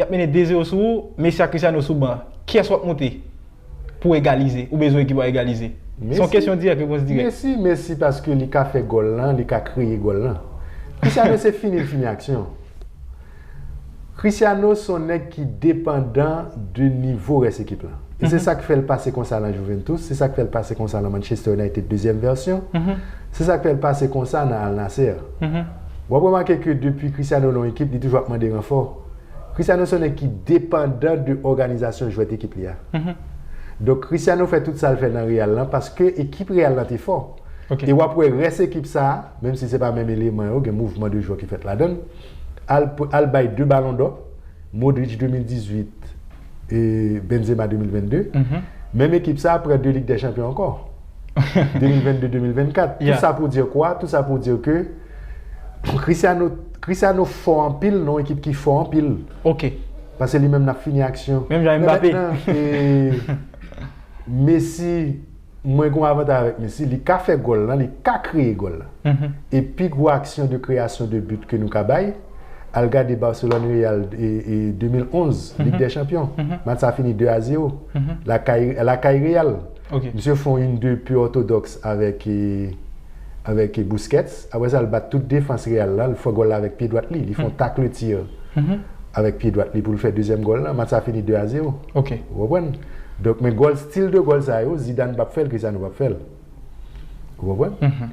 Yap mennen 2 zero sou ou, Messi ak Cristiano sou ban, kiyès wap moute pou egalize, ou bezwen ekip ou a egalize? Se yon kesyon dirèk, repons dirèk. Messi, Messi paske li ka fè gòl lan, li ka kreye gòl lan. Cristiano se fini l fini aksyon. Cristiano son nèg ki depandan de nivo rès ekip lan. E se sak fèl pase konsa lan Juventus, se sak fèl pase konsa lan Manchester United dezyèm vèsyon, se sak fèl pase konsa nan Al Nassr. Wap remake ke depi Cristiano lan yon ekip li toujou ap mande ranfò. Cristiano se yon nèg ki depandan de òganizasyon jwèt ekip li a. Donk Cristiano fè tout sa l fè nan Real lan paske ekip Real lan te fò. E w ap wè rès ekip sa a, menm si se pa menm eleman yo, gen mouvman de jwè ki fèt ladann, al al bay 2 balon dò, Modric 2018 e Benzema 2022, menm ekip sa a pran 2 Lig dè Chanpyon ankò. 2022-2024. Tout sa pou dire kwa? Tout sa pou dire ke Cristiano Cristiano fò anpil nan yon ekip ki fò anpil. Ok. Pase li menm l ap fini aksyon. Menm jan Mbappé. Men mètnan, Messi, mwen gen yon avantaj avèk Messi, li ka fè gòl lan, li ka kreye gòl lan. E pi gwo aksyon de kreyasyon de but ke nou ka bay, al gade Barcelone Real 2011, Ligue des Champions. Match sa fini 2 a 0. Lakay Real. Misye fon yn 2 pu orthodox avèk avèk Busquets aprè sa l bat tout defans Real la l fò gòl la avèk pye dwat li li fon tacle tir avèk pye dwat li pou l fè dezyèm gòl la match sa fini 2 a 0 ou konprann donk men gòl stil de gòl sa yo Zidane pap fè l Cristiano pap fè l ou konprann.